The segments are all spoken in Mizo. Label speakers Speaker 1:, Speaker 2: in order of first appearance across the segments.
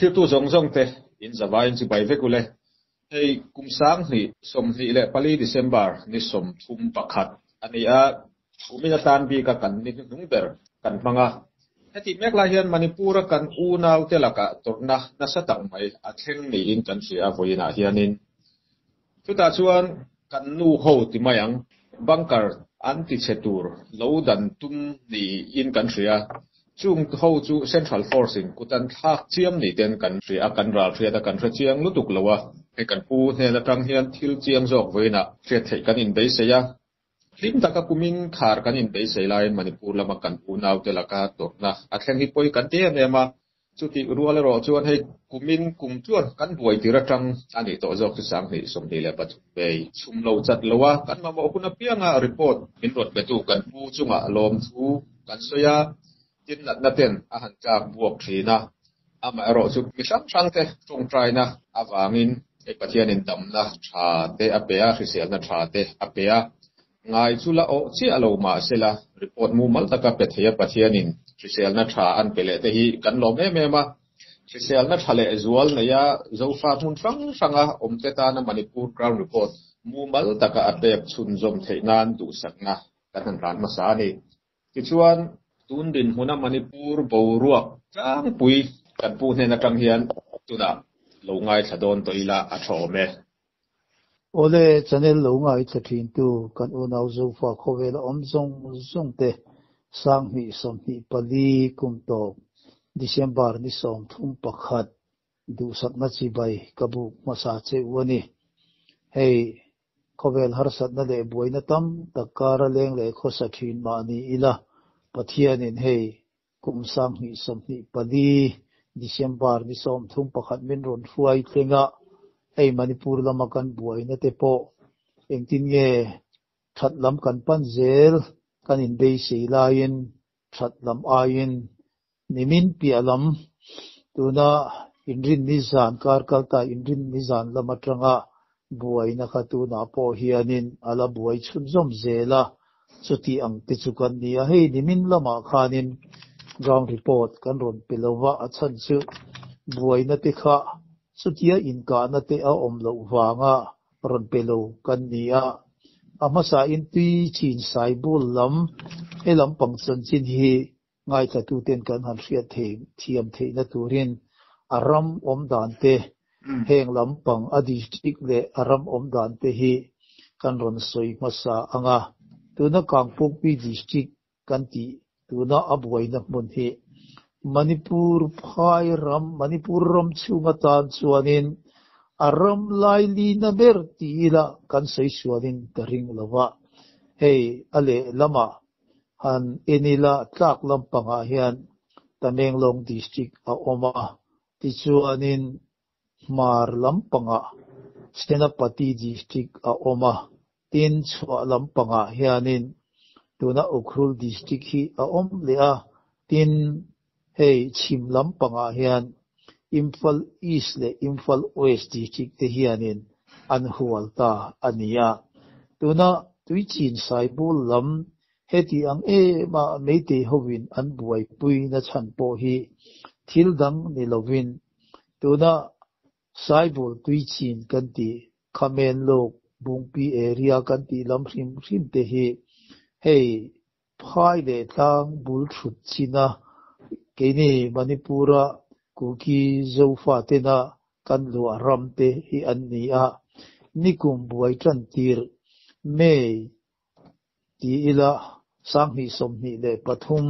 Speaker 1: Thiltu zawng zawng te in zavaiin chu bai vek ule. Hei kum sang hnih, sawmhnih leh pali December ni sawmthum pakhat a ni a, Umina tan bika kan ni hnu hnung ber kan hmang a, heti mek lai hian Manipura kan unaute lakah tawrhna nasa tak mai a thleng niin kan hria a vawiin ah hianin chutah chuan kan nu ho ti mai ang bunker an ti chhe tur lo dan tum niin kan hria chung ho chu Central Force in kut an thlak chiam ni ten kan hria a, kan ral hriat a, kan hre chiang lutuk lo a. Hei kan pu hnen atang hian thil chiang zawk vawiin ah hriat theih kan inbeisei a, Hlim taka kumin khar kan inbeisei laiin Manipur lama kan unaute laka tawrhna a thleng hi pawi kan ti em em a, chutih rual erawh chuan hei kumin kum chuan kan buai tir atang a nih tawh zawk chu sanghnih sawmhnih leh pathum mei chhum lo chat lo a kan mamawh hun apianga report min rawn petu kan pu chunga lawmthu kan sawi a. Titnatna ten a han tlak buak thin a, amaherawh chu mi hrang hrangte ṭawngṭaina avangin hei Pathianin damna ṭha te a pe a, hriselna ṭha te a pe a. Ngai chu la awh chiah lo mahsela, report mumal taka pe thei a, Pathianin hriselna ṭha an pe leh te hi kan lawm em em a. Hriselna ṭha leh zual neia Zofa hmun hrang hranga awmte tana Manipur Ground Report mumal taka a pek chhunzawm theih nan duhsakna kan han ran hmasa a ni. Tichuan, tun dinhmuna Manipur boruak tlangpui kan pu hnen atang hian tunah lo ngaithla dawn tawh ila a thawm e.
Speaker 2: Awle, channel lo ngaithla thintu kan unau Zofa khawvela awm zawng zawng te, Sang hnih, sawmhnih pali, kum tawp, December ni sawm thum pakhat, Duhsakna chibai ka buk hmasa che u a ni. Hei khawvel harsatna leh buaina tam tak kara leng leh khawsa thin mahni ila Pathianin hei kum sanghnih sawmhnih pali December ni sawmthum pakhat min rawn hruai thleng a, hei Manipur lama kan buaina te pawh engtin nge that lam kan pan zel kan inbeisei laiin That lam aiin nimin piah lam, tuna inrin nizan kar kal ta inrin nizan lam atanga buaina kha tunah pawh hianin a la buai chhun zawm zel a, chutih ang te chu kan ni a. Hei nimin lamah khanin ground report kan rawn pe lo va, a chhan chu buaina te kha chutia inkahna te a awm loh vanga, rawn pe lo kan ni a, a hmasa in tui chin saibul lam e lam pang chanchin hi ngaithla-tu ten kan han hriat thei thiam theih na tur in a ram awm dan te heng lam pang a district leh a ram awm dan te hi kan rawn sawi hmasa ang a, tuna Kangpokpi district kan ti tuna a buaina hmun hi Manipur phai ram, Manipur ram chhung atan chuanin a ram lailina ber ti ila kan sawi sualin ka ring lo va, hei a lehlama han en ila tlak lampangah hian Tamenglawng District a awm a tichuanin Hmar lampangah Senapati District a awm a, tin chhuah lampangah hianin tuna Ukhrul District hi a awm leh a, tin hei chhim lampangah hian Imphal East leh Imphal West District te hianin an hual ta a ni a. Tuna Tuichin Saibul lam Heti ang em a meitei hovin an buaipui na chhan pawh hi thil dang ni lovin tuna Saibul tui chin kan ti, Khamen luk, Bungpi area kan tih lam hrim hrim te hi hei phai leh tlang bul thut china keini Manipura Kuki Zofa tena kan luah ram te hi an ni a, nikum buai tan tir mei Ti ila, Sanghnih sawmhnih leh pathum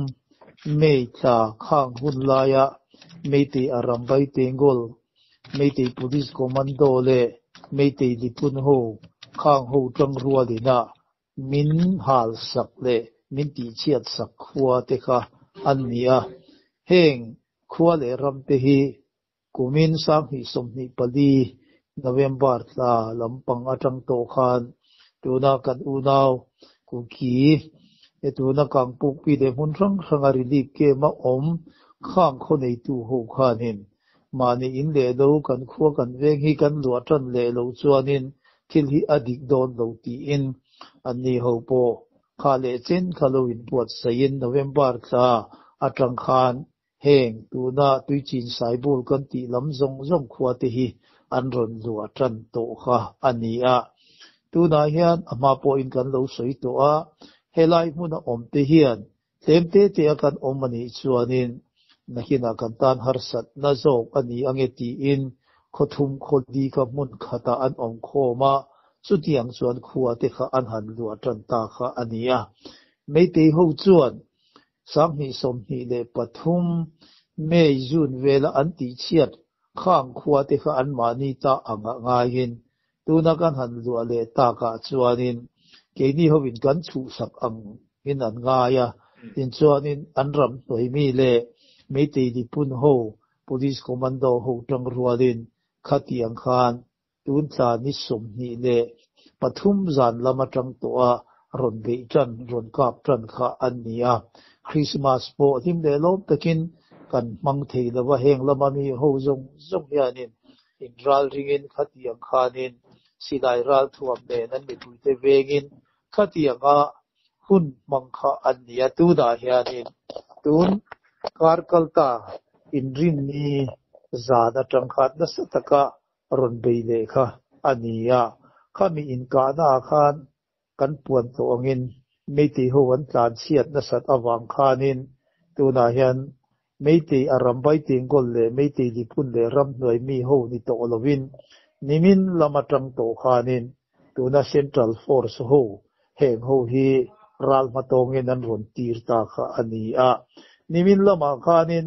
Speaker 2: May tla khang hun laia Meitei Arambai Tengol, Meitei Police Commando leh Meitei Lipun ho khang ho tang rualina min hal sak leh min tihchhiat sak khua te kha an ni a. Heng khua leh ram te hi Kumin sanghnih sawmhnih pali November tla lampang atang tawh khan tuna kan unau Kuki e tuna Kangpukpi leh hmun hrang hranga relief camp a awm khang khaw neitu ho khanin mahni in leh lo kan khua kan veng hi kan luah tan leh lo chuanin thil hi a dik dawn lo tiin anni ho pawh kha leh chin kha lo inpuat saiin November tla atang khan Heng tuna tui chin saibul kan tih lam zawng zawng khua te hi an rawn luah tan tawh kha a ni a. Tunah hian a hma pawhin kan lo sawi tawh a, helai hmun a awm te hian tlem te te a kan awm a nih chuanin nakinah kan tan harsatna zawk a ni ange tiin khaw thum khaw di kha hmun khatah an awm khawm a, chutiang chuan khua te kha an han luah tan ta kha a ni a. Meiteiho chuan Sanghnih sawmhnih leh pathum, May, June, vela an tihchhiat khang khua te kha anmahni ta a ngah ngaiin tuna kan han luah leh takah chuanin keini hovin kan chhuhsak angin an ngai a, tinchuanin an ram hnawihmi leh Meitei nipun ho, Police Commando ho tangrualin khatiang khan Tun tla ni sawmhnih leh pathum zan lam atang tawha rawn beih tan, rawn kap tan kha an ni a. Krismas pawh hlim leh lawm takin kan hmang thei lo va, heng lama mi ho zawng zawng hianin inral ringin khatiang khanin silai ralthuam nen an mipuite vengin khatianga hun hmang kha an ni a. Tunah hianin tun kar kal ta inrinni zan atang kha nasa taka A rawn bei leh kha a nia. Khami inkahna ah khan kan puan tawh angin Meitei ho an tlanchhiat nasat avang khanin tunah hian Meitei a ram Baitengol leh Meitei Lipun leh Ramhnuai mi ho ni tawh lovin nimin lam atang tawh khanin tuna Central Force ho heng ho hi ral hma tawngin an rawn tir ta kha a nia. Nimin lamah khanin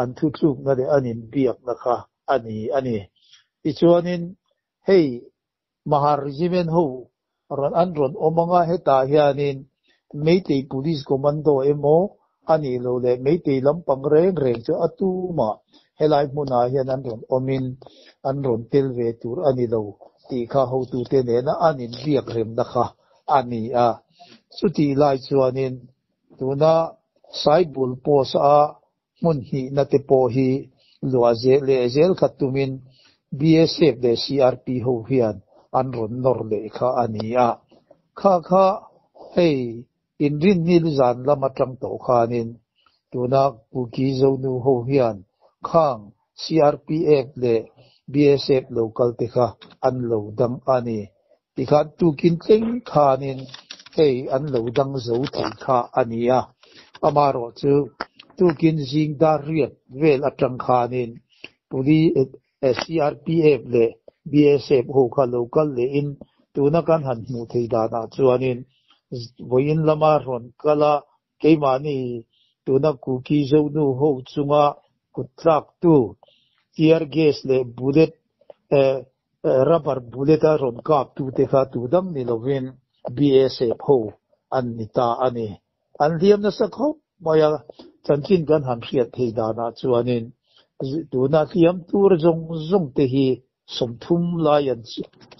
Speaker 2: An thu tlukna leh an inbiakna kha a ni a ni. Tichuanin hei Mahar Regiment ho rawn an rawn awm anga hetah hianin Meitei Police Commando emaw a nih loh leh Meitei lampang reng reng chu a tumah helai hmunah hian an rawn awmin an rawn tel ve tur a ni lo tih kha hotute nena an inbiak remna kha a ni a. Chutih lai chuanin Tuna Saibul post a hmun hnihna te pawh hi luah zel leh zel kha tumin BSF leh CRP ho hian an rawn nawr leh kha a ni a. Kha kha hei inrinnil zan lam atang tawh khanin tuna Kuki Zonu ho hian khang CRPF leh BSF lo kalte kha an lo dang a ni. Tikhan tukin tleng khanin hei an lo dang zo thei kha a ni a. Amaherawh chu tukin zing dar riat vel atang khanin Police, CRPF leh BSF ho kha lo kal leh in tuna kan han hmuh thei danah chuanin vawiin lama rawn kal a, Keimahni tuna Kuki zonu ho chunga kut tlaktu tear gas leh bullet, rubber bullet, a rawn kaptu te kha tu dang ni lovin BSF ho an ni ta a ni. An hliam nasa khawp mai a, chanchin kan han hriat thei danah chuanin tuna hliam tur zawng zawng te hi sawmthum lai an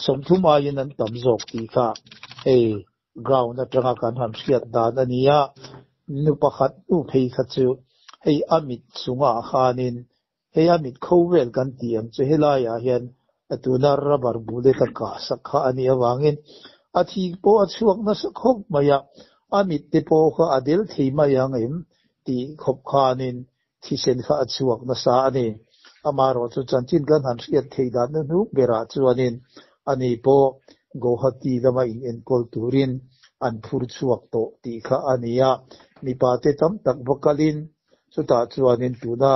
Speaker 2: sawmthum aiin an tam zawk tih kha hei Ground atanga kan han hriat dan a nia, nu pakhat hnu phei kha chu hei a mit chungah khanin hei a mit kho vel kan tih ang chu helaiah hian tuna rubber bullet a kah sak kha a nih avangin a thik pawh a chhuak nasa khawp mai a, a mit te pawh kha a del thei mai ang em? tih khawp khanin Thisen kha a chhuak nasa a ni. Amaherawh chu chanchin kan han hriat theih dan hnu hnu berah chuanin a ni pawh Guwahati lama inenkawl turin an phur chhuak tawh tih kha a ni a, mipate tam tak va kalhin chutah chuanin tuna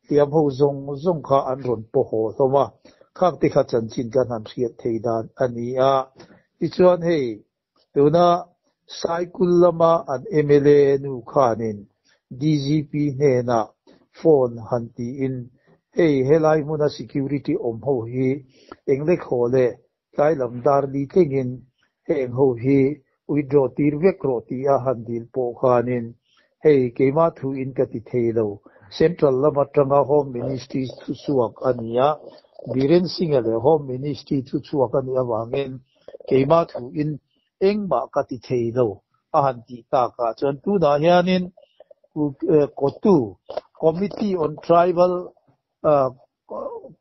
Speaker 2: hliamho zawng zawng kha an rawn paw haw hlawm a, khakte kha chanchin kan han hriat thei dan a ni a. Tichuan hei Tuna Saikul lama an mla nu khanin DGP hnena phone han tiin, Hei, helai hmuna security awm ho hi eng lek haw le, tlai lam dar li tlingin heng ho hi withdraw tir vek rawh tia han dil pawh khanin Hei, keimah thu in ka ti thei lo. Central lam atanga Home Ministry thuchhuak a ni a, Biren Singha leh Home Ministry thuchhuak a nih avangin keimah thu in engmah ka ti thei lo a han tih tak ah chuan tunah hianin Cotu, Committee on Tribal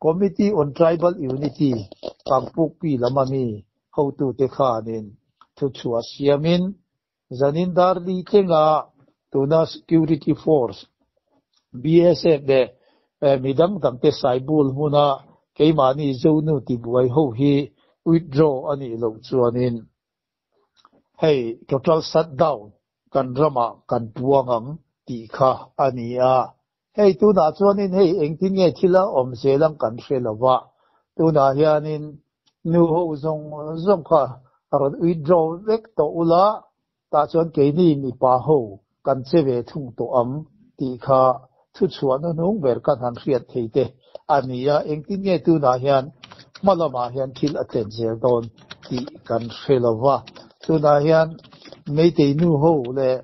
Speaker 2: Committee on Tribal Unity, Kangpukpi lam ami hotute khanin thuchhuah siamin Zanin Darli tlenga tuna Security Force, BSF, leh mi dang dang te saibul hmuna keimahni Zonu tibuai ho hi withdraw a nih loh chuanin hei total shutdown kan ramah kan puang ang tih kha a ni a. Hei tunah chuanin hei engtin nge thil a awm zel ang kan hre lo va, tunah hianin nu ho zawng zawng kha rawn withdraw vek tawh ula, tah chuan keini mipa ho kan che ve thung tawh ang tih kha thuchhuah na hnung ber kan han hriat thei te a ni a, engtin nge tunah hian hma lamah hian thil a tlen zel dawn tih kan hre lo va, tunah hian Meitei nu ho leh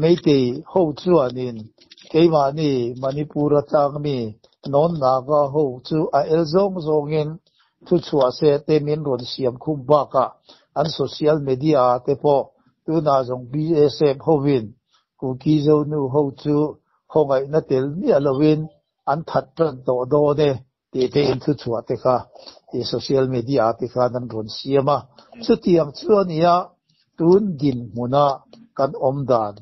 Speaker 2: Meitei ho chuanin keimahni Manipur a tlakmi Nawn Naga ho chu a el zawng zawngin thu chhuah se te min rawn siam khum bakah an social media te pawh tunah zawng BSF hovin Kuki Zonu ho chu hawngaihna tel miah loin an that tan tawh dawn e. Tih te in thu chhuah te kha i social media ah te khan an rawn siam a, chutiang chuan nia tun dinhmun a kan awm dan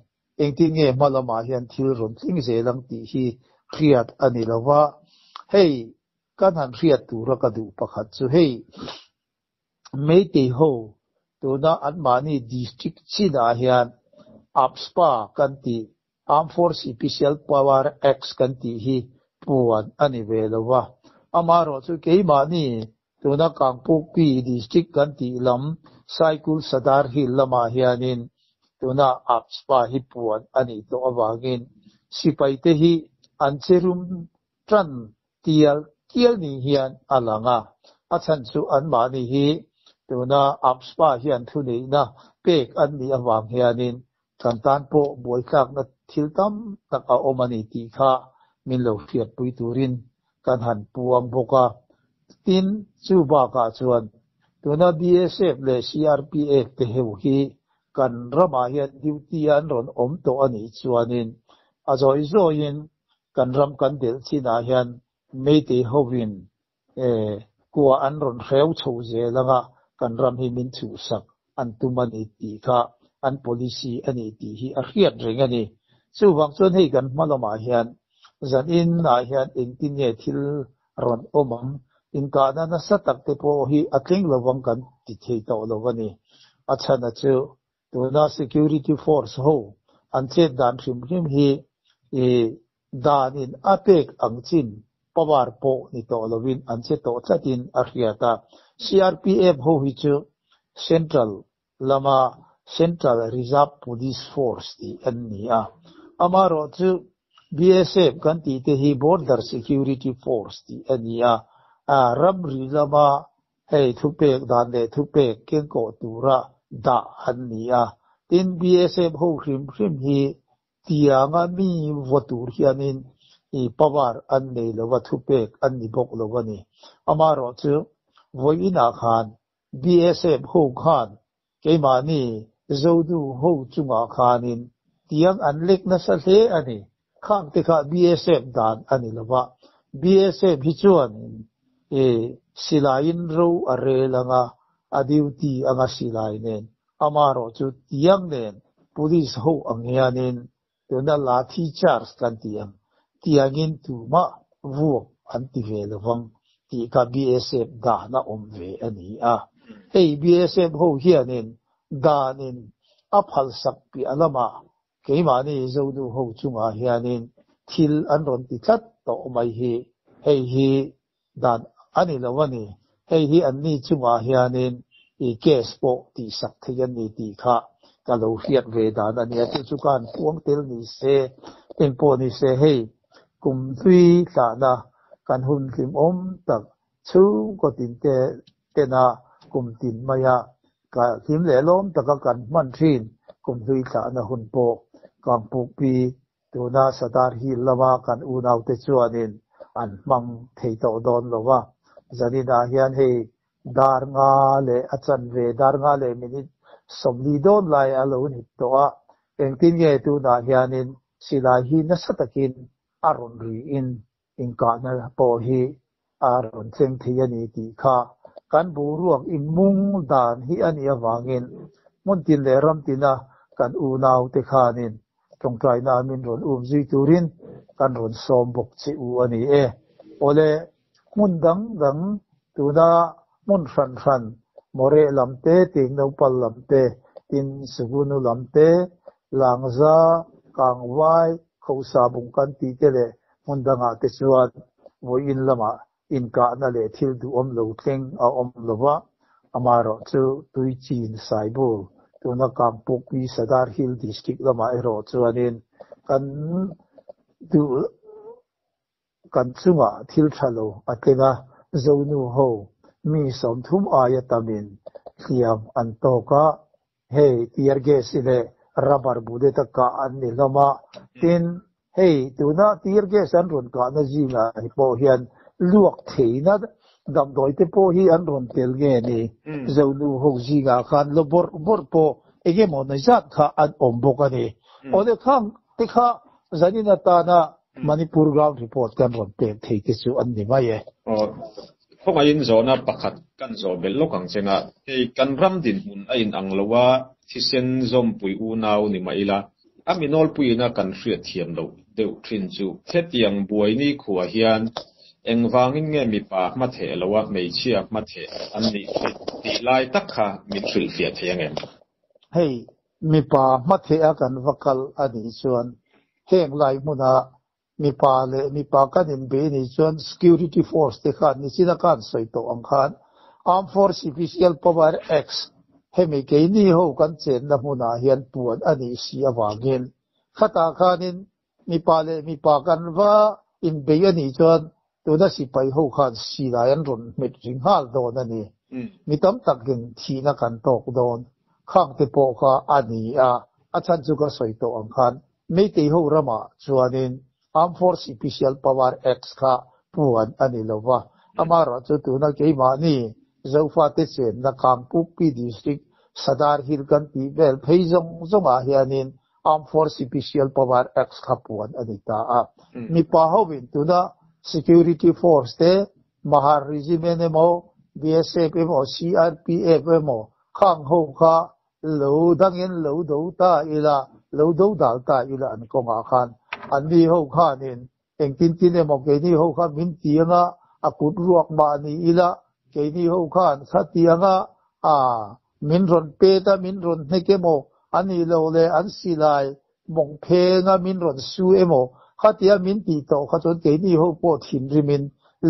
Speaker 2: engtin nge hma lamah hian thil rawn tling zel ang tih hi hriat a ni lo va, hei ka hna'n hriat tura ka duh pakhat chu hei. Meitei ho tuna anmahni district chinah hian APSPA kan tih, Armed Force Epicial Power Acts kan tih hi puan a ni ve lo va, amaherawh chu keimahni tuna Kangpokpi district kan tih lam Saikul Sadar Hill lamah hianin tuna APSPA hi puan a nih tawh avangin sipaite hi an che rum tan tial tial nih hian a lang a, a chhan chu anmahni hi tuna Apspa hian thuneihna pek an nih avang hianin kan tan pawh buaitlakna thil tam tak a awm a ni tih kha min lo hriatpui turin kan han puang bawk a, tin, chu bakah chuan tuna BSF leh CRPF te ho hi kan ramah hian duty-a an rawn awm tawh a nih chuanin a zawi zawiin Kan ram kan dilh chinah hian Meitei hoin kua an rawn hreu chho zel anga kan ram hi min chhuhsak an tum a ni tih kha an policy a ni tih hi a hriat reng a ni. Chuvang chuan hei kan hma lamah hian zan inah hian engtin nge thil rawn awm ang, inkahna nasa takte pawh hi a tling lovang kan ti thei tawh lo a ni. A chhana chu Tuna security force ho an chet dan hrim hrim hi i dan in a pek ang chin power pawh ni tawh lovin an che tawh tlat in a hriat a. CRPF ho hi chu Central lama Central Reserve Police Force tih an ni a, amaherawh chu BSF kan tih te hi Border Security Force tih a ni a, ram ri lama Hei thupek dan leh thupek kengkawh tura dah an ni a, tin BSF ho hrim hrim hi tianga mi vaw tur hianin i power an nei lo va, thupek an ni bawk lo a ni. Amaherawhchu vawiinah khan BSF ho khan Keimahni Zodu ho chungah khanin tiang an lek nasa hle a ni. Khakte kha BSF dan a ni lo va, BSF hi chuanin e silaiin ro a rel ang a, a duty anga silai nen. Amaherawhchu tiang nen Police ho ang hianin Tuna la thi charge kan ti ang tiangin tumah vuak an ti ve lovang tih kha BSF dana awm ve a ni a, hei BSF ho hianin danin a phalsak piah lamah keimahni zohnu ho chungah hianin thil an rawn ti tlat tawh mai hi hei hi dan a ni lo a ni. Hei hi anni chungah hianin i case pawh tihsak thei an ni tih kha ka lo hriat ve dan a nia. Chu chu khan puang tel ni se, eng pawh ni se hei kum hlui hlahna kan hun hlim awm tak chhungkaw tin te tena kum tin maia ka hlim lehlawm taka kan hman thin, kum hlui hlahna hun pawh kangpukpi Tuna Satan hi lama kan unaute chuanin an hmang thei tawh dawn lo va, Janina hian hei dar nga leh a chanve dar nga leh minute sawmli dawn lai a lo ni tawh a, engtin nge tunah hianin silai hi nasa takin a rawn ri in Inkahna pawh hi a rawn thleng thei a ni tih kha kan boruak inmung dan hi a nih avangin hmun tin leh ram tina kan unau te khanin tawngtaina min rawn um zui turin kan rawn sawm bawk che u a ni e. Awle, hmun dang dang Tuna hmun hran hran, Moreh lam te, Tihnaupal lam te, tin, Sugunu lam te, Langza, Kangvai, Khosabung kan tih te leh hmun dangah te chuan vawiin lamah inkahna leh thil duhawm lo thleng a awm lo va, amaherawh chu tui chin Saibul, tuna Kangpokpi Sadar Hill District lamah erawh chuanin kan duh Kan chungah thil tha lo a tleng a, Zonu ho mi sawmthum aia tam in hliam an tawk a, hei tear gas-i leh rubber bullet-a kah an ni hlawm a, tin, hei tuna tear gas an rawn kahna zingah hi pawh hian luak theihna damdawite pawh hi an rawn tel nge ni? Zonu ho zingah khan la bawrh bawrh pawh eng emaw nai zat kha an awm bawk a ni. Awle khang Tikha zanin atana Manipur ground report kan rawn pek thei te chu an ni mai e.
Speaker 1: Khawngaihin zawhna pakhat kan zawh belh lawk ang cheng a, hei kan ram dinhmun a inang lo a, thisen zawmpui unau ni mah ila a minawlpuina kan hriatthiam loh deuh thin chu Thletiang buai nikhua hian engvangin nge mipa hmatheh loh a hmeichhia hmatheh an nih hi tih lai tak kha min hrilhfiah thei angem? Hei
Speaker 2: Mipa hmathea kan va kal a nih chuan heng lai hmuna mipa leh mipa kan inbe a nih chuan security force te khan nichina kan sawi tawh ang khan Armed Force Special Power Acts hemi keini ho kan chenna hmunah hian puan a nih si avangin khata khanin Mipa leh mipa kan va inbei a nih chuan tuna sipai ho khan silai an rawn hmet ri nghal dawn a ni. Mi tam takin thihna kan tawk dawn. Khangte pawh kha a ni a, a chhan chu ka sawi tawh ang khan Meitei ho ramah chuanin Armed Force Special Power Act kha puan a ni lo va, amarawh chu tuna keimahni Zofate chenna Kangpukpi District Sadar Hill kan tih vel phei zawng zawngah hianin Armed Force Sipisial Power Act kha puan a ni ta a. Mipa hovin tuna Security Force te, Mahar Regiment emaw, BSF emaw, CRPF emaw kha ang ho kha lo dangin lo do ta ila, lo do dal ta ila an kawngah khan an ni ho khanin Engtin tin emaw keini ho kha min ti anga a kut ruak mah ni ila, keini ho khan thla ti anga aa min rawn pet a, min rawn hnek emaw a nih loh le an silai mawng phenga min rawn su emaw kha tia min tih tawh kha chuan keini ho pawh thinrimin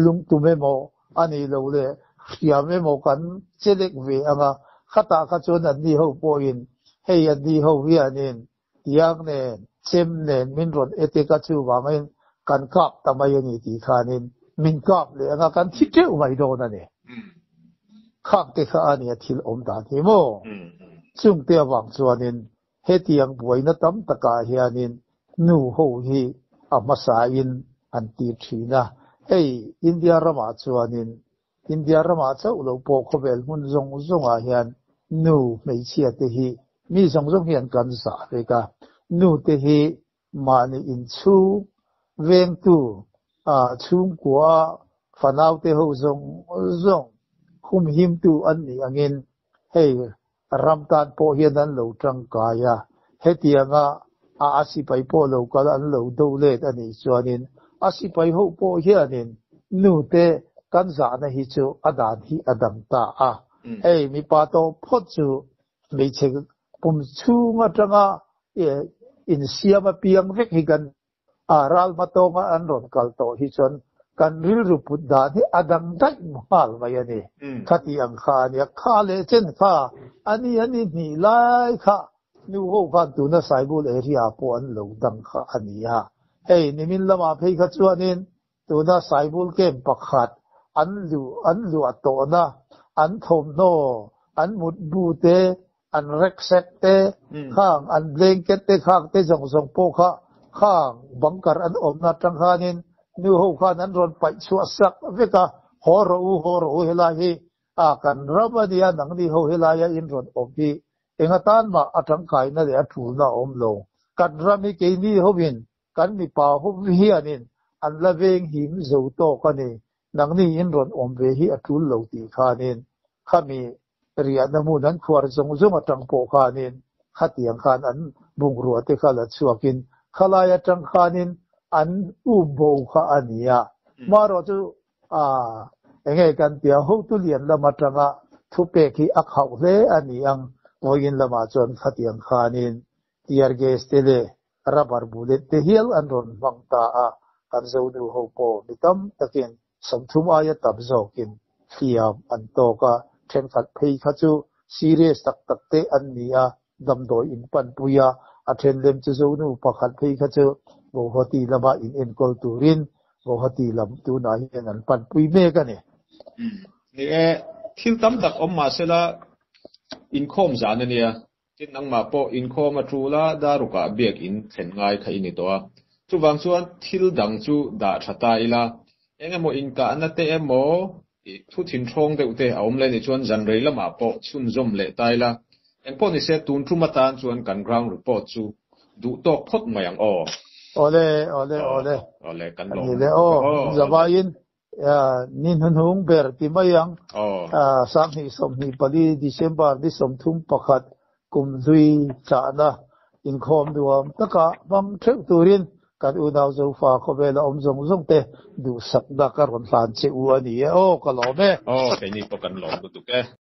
Speaker 2: lungtum emaw a nih loh le hriam emaw kan che lek ve anga khatah kha chuan anni ho pawhin hei anni ho hianin Tiang nen, chem nen min rawn et e ka chuvangin kan kap ta mai a ni tih khanin min kap leh anga kan thi teuh mai dawn a ni. Khak te kha a nia thil awm dan hi maw? Chungte avang chuanin hetiang buaina tam takah hianin nu ho hi a hmasain an tir thin a. Hei India ramah chuanin India ramah chauh loh pawh khawvel hmun zawng zawngah hian nu hmeichhia te hi mi zawng zawng hi an kan zah vek a, nu te hi mahni inchhung vengtu a chhungkua fanaute ho zawng zawng humhimtu an nih angin hei A ram tan pawh hian an lo tangkai a, hetianga a a sipai pawh lo kal an lo do let a nih chuanin a sipai ho pawh hianin nute kan zahna hi chu a dan hi a dam ta a, hei mipa tawh phawt chu hmeichhe pum chhung atanga insiam apiang vek hi kan a ral hma tawnga an rawn kal tawh hi chuan kan rilru put dan hi a dang daih nghal mai a ni. Khati ang kha a nia, kha leh chen kha a ni a ni hnih lai kha nu ho khan tuna Saibul area pawh an lo dang kha a nia. Hei nimin lamah phei kha chuanin Tuna saibul kem pakhat an luh an luah tawhna, an thawmhnaw, an mutbu te, an reksek te, khang an blanket te khang te zawng zawng pawh kha khang bunker an awmna atang khanin nu ho khan an rawn paih chhuah sak vek a, haw rawh u, haw rawh u helai hi a kan ram a nia, nang ni ho helai a in rawn awm hi enga tan mah a tangkaina leh a tulna a awm lo, kan ram hi keini ho in Kan mipa hum hianin an la veng him zo tawk a ni, nang niin rawn awm ve hi a tul lo tih khanin khami riahna hmun an khuar zawng zawng atang pawh khanin khatiang khan an bungrua te kha la chhuakin khalai atang khanin an um bo kha a ni a. Marawh chu aah enge kan tia, Hotulian lam atanga thupek hi a khauh hle a ni ang, vawiin lamah chuan khatiang khanin Tear gas te leh rubber bullet te hial an rawn hmang ta a, kan zohnu ho pawh mi tam takin sawmthum aia tam zawkin hliam an tawk a, thenkhat phei kha chu serious tak tak te an ni a, damdawi in panpui a, a then lem chu zohnu pakhat phei kha chu Guwahati lama in enkawl turin Guwahati lam tunah hian an panpui mek a ni. Ni
Speaker 1: e, thil tam tak awm mahsela inkhawm zan a nia. Tin, nangmah pawh inkhawm a tul a, darukah biak in thlen ngai kha i ni tawh a. Chuvang chuan thil dang chu dah tha ta ila, eng emaw inkahna te emaw thu thinhrawng deuh te a awm leh nih chuan zan rei lamah pawh chhunzawm leh ta ila. Engpawh ni se, tun tum atan chuan kan ground report chu duh tawk phawt mai ang aw. Awle, awle, awle, kan ni le aw,
Speaker 2: zawvaiin Ni hnunung ber ti mai ang. Sanghnih sawmhnih pali, December ni sawmthum pakhat, kum hlui thlahna inkhawm nuam taka hmang theuh turin kan unau Zofa khawvela awm zawng zawng te duhsakna ka
Speaker 1: rawn
Speaker 2: hlan
Speaker 1: che u
Speaker 2: a ni e.
Speaker 1: Aw,
Speaker 2: ka
Speaker 1: lawm
Speaker 2: e.
Speaker 1: Aw,
Speaker 2: keini pawh
Speaker 1: kan
Speaker 2: lawm lutuk
Speaker 1: e.